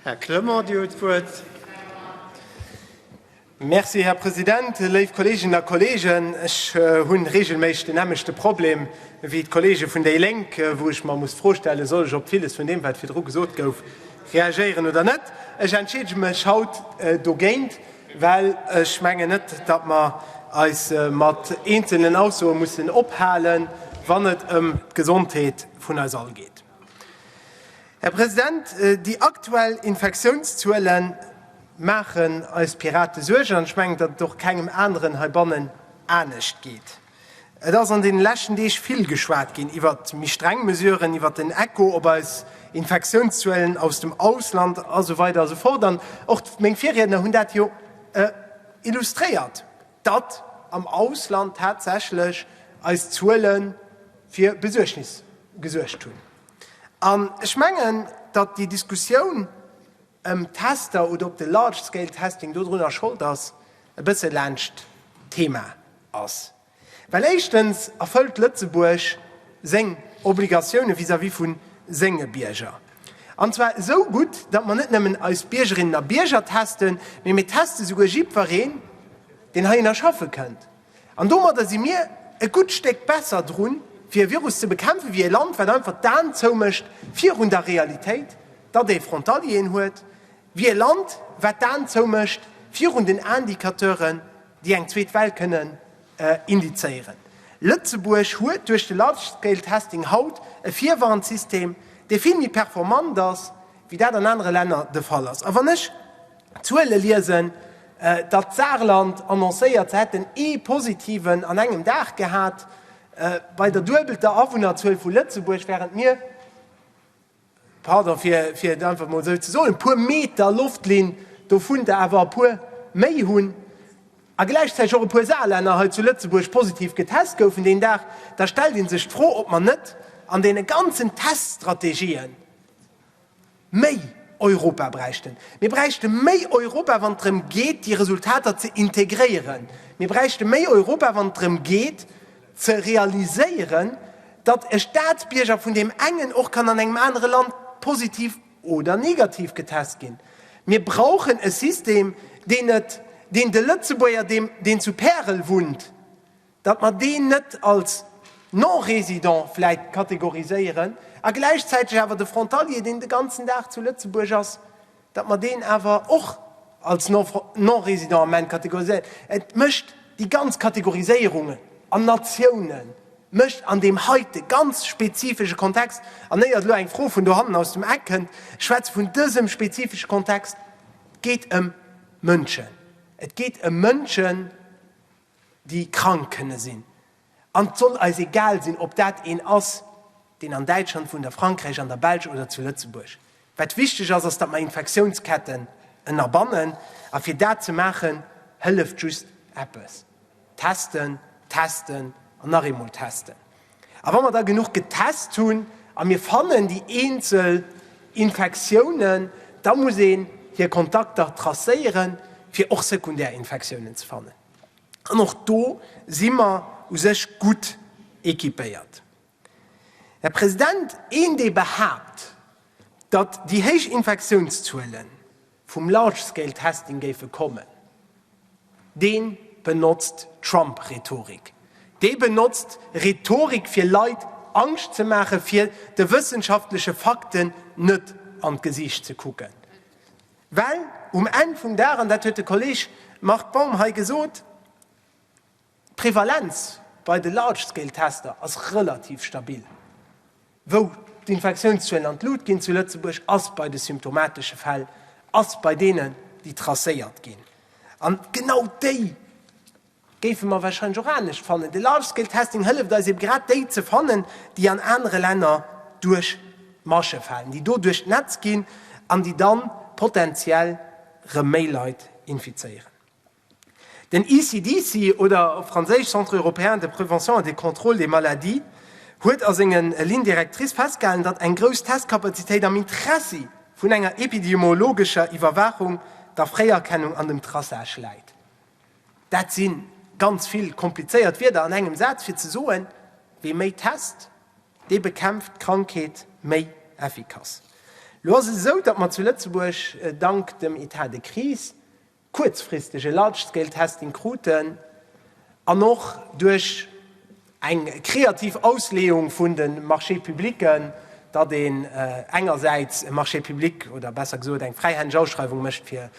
Här Clement, Dir hutt d'Wuert. Merci, Här President. Léif Kolleeginnen a Kolleegen, ech hu reegelméisseg den nämmlechte Problem wéi d'Kolleege vun déi Lénk, wou ech mer muss d'Fro stellen, soll ech op villes vun deem, wat virdru gesot gouf, reagéieren oder net. Ech entscheedege mech haut dogéint, well ech mengen net, datt mer eis mat eenzelnen Aussoe mussen ophalen, wann et ëm d'Gesondheet vun eis all geet. Här President, déi aktuell Infektiounszuele maachen eis Pirate Suergen, an ech mengen, datt et och kengem aneren heibannen anescht geet. Et ass an deene leschten Deeg vill geschwat ginn iwwer méi streng Mesuren, iwwer den Echo op eis Infektiounszuelen aus dem Ausland a sou weider a sou fort. An och meng Virriedner hunn dat jo illustréiert, datt am Ausland tatsächlech eis Zuele fir Besuergnis gesuergt hunn. An ech mengen, datt déi Diskussioun ëm d'Tester oder ob de Large Scale Testing dodrunner Schold ass, e bësse laanscht d'Thema ass. Well éischtens erfëllt Lëtzebuerg seng Obligatioune vis-à-vis vu senge Bierger. An zwar esou gutt, datt mer net nëmmen eis Biergerinnen a Bierger testen, mee mir teste souguer jiddwereen, deen heihinner schaffe kënnt. An domadder si mir e gutt Stéck besser drun, fir e Virus ze bekämpfen, wéi e Land, wat einfach d'Aen zoumécht virun der Realitéit, datt ee Frontalieren huet, wéi e Land, wat d'Aen zoumécht virun den Indicateuren, déi eng zweet Well kënnen indizéieren. Lëtzebuerg huet duerch de Large-Scale-Testing haut e Virwarnsystem, dee vill méi performant ass, wéi dat an anere Länner de Fall ass. A wann ech. Zuele liesen, datt d'Saarland annoncéiert, se hätten ee Positiven an engem Dag gehat, bei der duebelter Awunnerzuel vu Lëtzebuerg, wärend mir, pardon, fir et einfach emol esou ze soen, e puer Meter Loftlinn dovunter awer e puer méi hunn, a gläichzäiteg och e puer Saarlänner hei zu Lëtzebuerg positiv getest goufen deen Dag, da stellt ee sech d'Fro, ob mer net an deene ganzen Teststrategien, Méi Europa bräichten. Mir bräichte méi Europa, wann et drëm geet, déi Resultater ze integréieren. Mir bräichte méi Europa, wann et drëm geet, ze realiséieren, datt e Staatsbierger vun deem engen och kann an engem anere Land positiv oder negativ getest ginn. Mir brauchen e System, deen et, deen de Lëtzebuerger, deen zu Pärel wunnt, datt mer deen net als Non-résident vläit kategoriséieren a gläichzäiteg awer de Frontalier, deen de ganzen Dag zu Lëtzebuerg ass, datt mer deen awer och als Non-résident am Ament kategoriséieren. Et mécht déi ganz Kategoriséierung an Natiounen, mécht an deem heite ganz spezifesche Kontext, an éiert elo eng Fro vun dohannen aus dem Eck kënnt, ech schwätze vun dësem spezifesche Kontext, et geet ëm Mënschen, et geet ëm Mënschen, déi krank kënne sinn, an et soll eis egal sinn, ob dat een ass, deen an Däitschland wunnt, a Frankräich, an der Belsch oder zu Lëtzebuerg. Wat wichteg ass, ass, datt mer Infektiounsketten ënnerbannen, a fir dat ze maachen, hëlleft just eppes, Testen, testen an nach eemol testen. A wa mer da genuch getest hunn a mir fannen déi eenzel Infektiounen, da muss een hir Kontakter tracéieren, fir och sekundär Infektiounen ze fannen. An och do si mer u sech gutt equipéiert. Här President, een, dee behaapt, datt déi héich Infektiounszuelen, vum Large Scale Testing géife kommen, dee benotzt Trump-Rhetorik. Dee benotzt Rhetorik fir Leit Angscht ze maachen, fir de wëssenschaftleche Fakten net an d'Gesiicht ze kucken. Well um Enn vum Dag, an dat huet de Kolleeg Marc Baum hei gesot, D'Prevalenz bei de Large-Scale-Tester ass relativ stabil. Wou d'Infektiounszuelen an d'Lut ginn zu Lëtzebuerg ass bei de symptomatesche Fäll, ass bei deenen, déi tracéiert ginn. An genau déi géife mer warscheinlech och anescht fannen. De Large-Scale-Testing hëlleft eis ebe grad déi ze fannen, déi an anere Länner duerch d'Masche falen, déi do duerch d'Netz ginn an déi dann potenziell erëm méi Leit infizéieren. Den ECDC, oder op Franséisch Centre européen de prévention et de contrôle des maladies, huet a senge Lignes directrices festgehalen, datt eng grouss Testkapazitéit am Interessi vun enger epidemiologescher Iwwerwaachung, der Fréierkennung an dem Traçage läit. Dat si ganz vill komplizéiert Wierder an engem Saz fir ze soen, Wee méi test, dee bekämpft d'Krankheet méi effikass. Elo ass et esou, datt mer zu Lëtzebuerg, dank dem Etat de crise, kuerzfristeg e Large-Scale-Testing kruten an och duerch eng kreativ Ausleeung vun de Marché-publicen, datt een engersäits e Marché public oder besser gesot eng fräihändeg Ausschreiwung mécht fir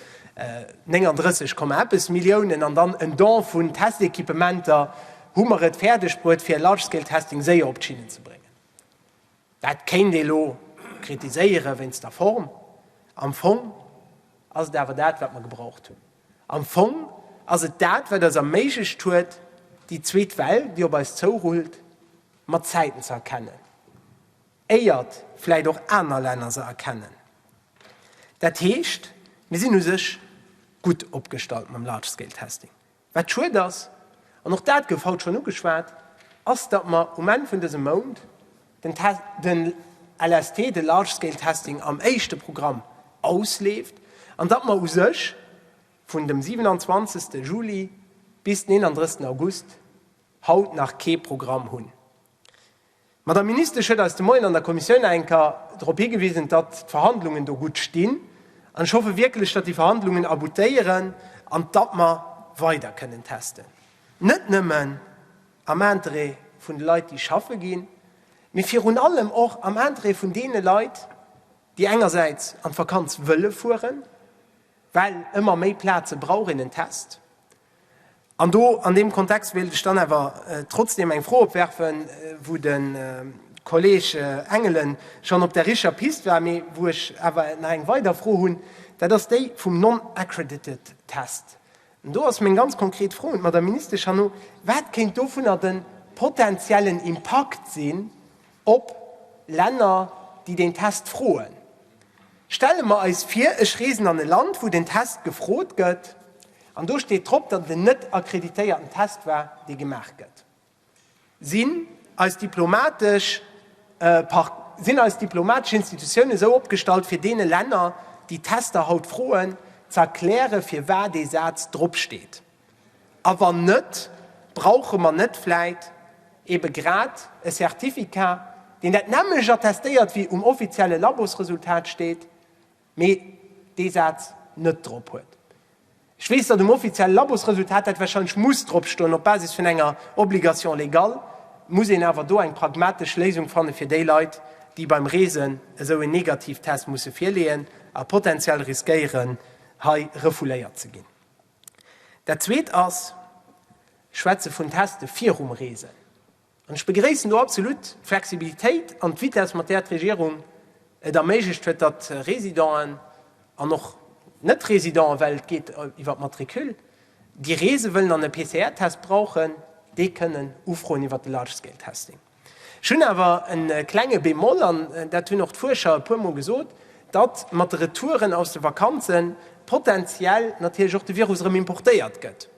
39 Komma eppes Milliounen an dann en Don vun Test-Equipementer, hu mer et fäerdegbruet, fir e Large-Scale-Testing séier op d'Schinnen ze bréngen. Dat kéint ee lo kritiséiere wéinst der Form. Am Fong ass et awer dat, wat mer gebraucht hunn. Am Fong ass et dat, wat eis erméiglecht huet, déi zweet Well, déi op eis zourullt, mat Zäiten ze erkennen, éiert vläicht och aner Länner se erkennen. Dat heescht, mir sinn u sech gutt opgestallt mam Large-Scale-Testing. Wat schued ass, an och dat gouf haut schonn ugeschwat, ass, datt mer um Enn vun dësem Mount den LST, de Large Scale Testing, am éischte Programm ausleeft an datt mer u sech vun dem 27. Juli bis den 31. August haut nach kee Programm hunn. D'Madame Ministesch huet eis de Moien an der Kommissioun enker drop higewisen, datt d'Verhandlungen do gutt stinn. An ech hoffe wierklech, datt déi Verhandlungen aboutéieren an datt mer weider kënnen testen, net nëmmen am Interêt vun de Leit, déi schaffe ginn, mee virun allem och am Interêt vun deene Leit, déi engersäits an d'Vakanz wëlle fueren, well ëmmer méi Plaze brauch een en Test. An do, an deem Kontext, wéilt ech dann awer trotzdeem eng Fro opwerfen, wou de Kolleeg Engelen schonn op der richtger Pist war, mee wou ech awer nach eng weider Fro hunn, dat ass déi vum non-accredited test. An do ass meng ganz konkret Fro un d'Madame Ministesch herno, Wat kéint dovunner de potentiellen Impakt sinn, Op Länner, déi deen Test froen. Stelle mer eis vir, ech reesen an e Land, wou den Test gefrot gëtt, an do steet drop, datt et en net akkreditéierten Test war, dee gemaach gëtt. Sinn eis diplomatesch sinn eis diplomatesch Institutioune esou opgestallt, fir deene Länner, déi Tester haut froen, ze erkläre firwat dee Saz drop steet? A wann net, brauche mer net vläit ebe grad e Certificat, deen dat nämmlecht attestéiert wéi um offizielle Labosresultat steet, mee dee Saz net drop huet? Ech weess, datt um offizielle Labosresultat dat warscheinlech muss drop stoen, op Basis vun enger Obligation légale. Et muss een awer do eng pragmatesch Léisung fanne fir déi Leit, déi beim Reesen esou en Negativtest musse virleeën a potentiell riskéieren, hei refouléiert ze ginn. Dat Zweet ass, ech schwätze vun Teste virum Reesen. An ech begréissen do absolut d'Flexibilitéit an d'Vitesse, mat där d'Regierung et erméiglecht huet, datt Residenten an och Net-Residenten, well et geet iwwer d'Matricule, déi reese wëllen an e PCR-Test brauchen, dee kënnen ufroen iwwer de Large-Scale-Testing. Ech hunn awer e klenge Bémol, an dat hunn och d'Fuerscher e puermol gesot, datt mat de Retouren aus de Vakanze potentiell natierlech och de Virus erëm importéiert gëtt.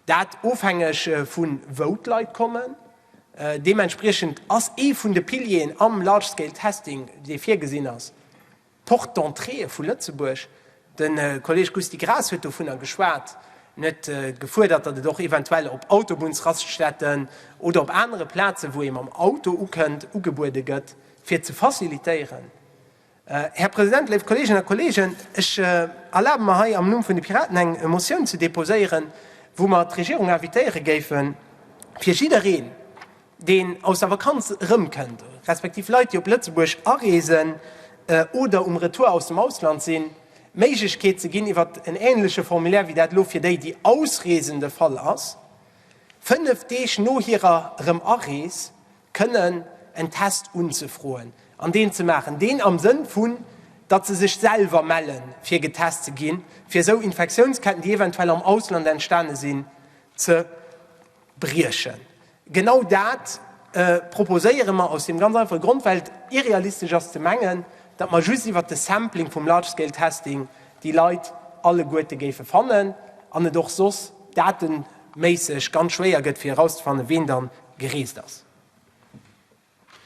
Dat ofhängeg vu wou d'Leit kommen. Deementspriechend ass ee vun de Pilieren am Large-Scale-Testing, dee virgesinn ass, D'Porte d'entrée vu Lëtzebuerg, de Kolleeg Gusty Graas huet dovunner geschwat. En huet gefuerdert, datt et och eventuell op Autobunnsraststätten oder op anere Plazen, wou ee mam Auto ukënnt, ugebuede gëtt, fir et ze facilitéieren. Här President, léif Kolleeginnen a Kolleegen, ech erlabe mer hei am Numm vun de Piraten eng Motioun ze deposéieren, wou mer d'Regierung invitéiere géifen, fir jiddereen, deen aus der Vakanz erëmkënnt, respektiv Leit, déi op Lëtzebuerg areesen oder um Retour aus dem Ausland sinn, d'Méiglechkeet ze ginn, iwwer en änleche Formulaire wéi dat elo fir déi, déi ausreesen, de Fall ass, fënnef Deeg no hirer Erëm-Arees kënnen en Test unzefroen an deen ze maachen, deen am Sënn vun, datt se sech selwer melle fir getest ze ginn, fir esou Infektiounsketten, déi eventuell am Ausland entstane sinn, ze briechen. Genau dat proposéiere mer aus deem ganz einfache Grond, well et irrealistesch ass ze mengen, datt mer just iwwert de Sampling vum Large Scale Testing déi Leit alleguerte géife fannen an et och soss dateméisseg ganz schwéier gëtt fir erauszefannen, ween da gereest ass.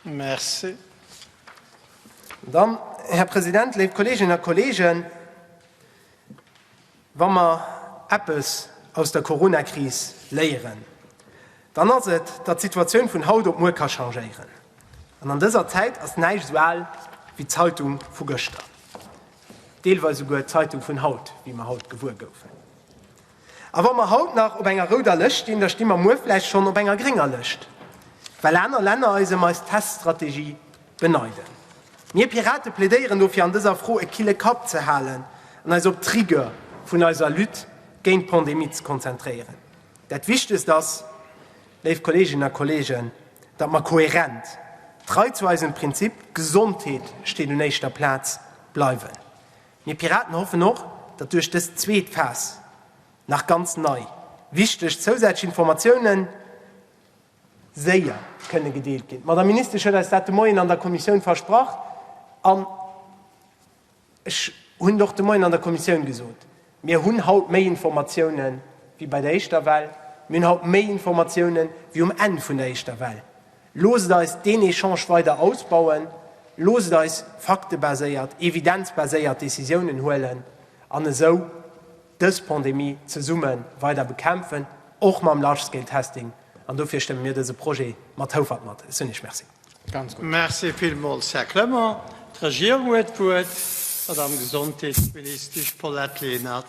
Merci. Dann, Här President, léif Kolleeginnen a Kolleegen, wa mer eppes aus der Coronakris léieren, dann ass et, datt d'Situatioun vun haut op muer ka changéieren. An an dëser Zäit ass näischt esou al wéi d'Zeitung vu gëschter, deelweis esouguer d'Zeitung vun haut, wéi mer haut gewuer goufen. A wa mer haut nach op enger rouder Lëscht stinn, da sti mer muer vläicht schonn op enger grénger Lëscht, well aner Länner eis ëm eis Teststrategie beneiden. Mir Pirate plädéieren dofir, an dëser Fro e kille Kapp ze halen an eis op d'Rigueur vun eiser Lutte géint d'Pandemie ze konzentréieren. Dat Wichtegst ass, léif Kolleeginnen a Kolleegen, datt mer kohärent, trei zu eisem Prinzip Gesondheet steet un éischter Plaz bleiwen. Mir Piraten hoffen och, datt duerch dës zweet Phas nach ganz nei, wichteg zousätzlech Informatiounen séier kënne gedeelt ginn. D'Madame Ministesch huet eis dat de Moien an der Kommissioun versprach an ech hunn et och de Moien an der Kommissioun gesot, Mir hunn haut méi Informatioune wéi bei der éischter Well. Mir hunn haut méi Informatiounen, wéi um Enn vun der éischter Well. Loosst eis deen Echange weider ausbauen, loosst eis faktebaséiert, evidenzbaséiert Décisiounen huelen an esou dës Pandemie zesumme weider bekämpfen, och mam Large-Scale-Testing. An dofir stëmme mir dëse Projet mat Houfert mat. Ech soen Iech Merci. Merci villmools, Här Clement. D'Regierung huet d'Wuert, d'Madamm Gesondheetsministesch Paulette Lenert.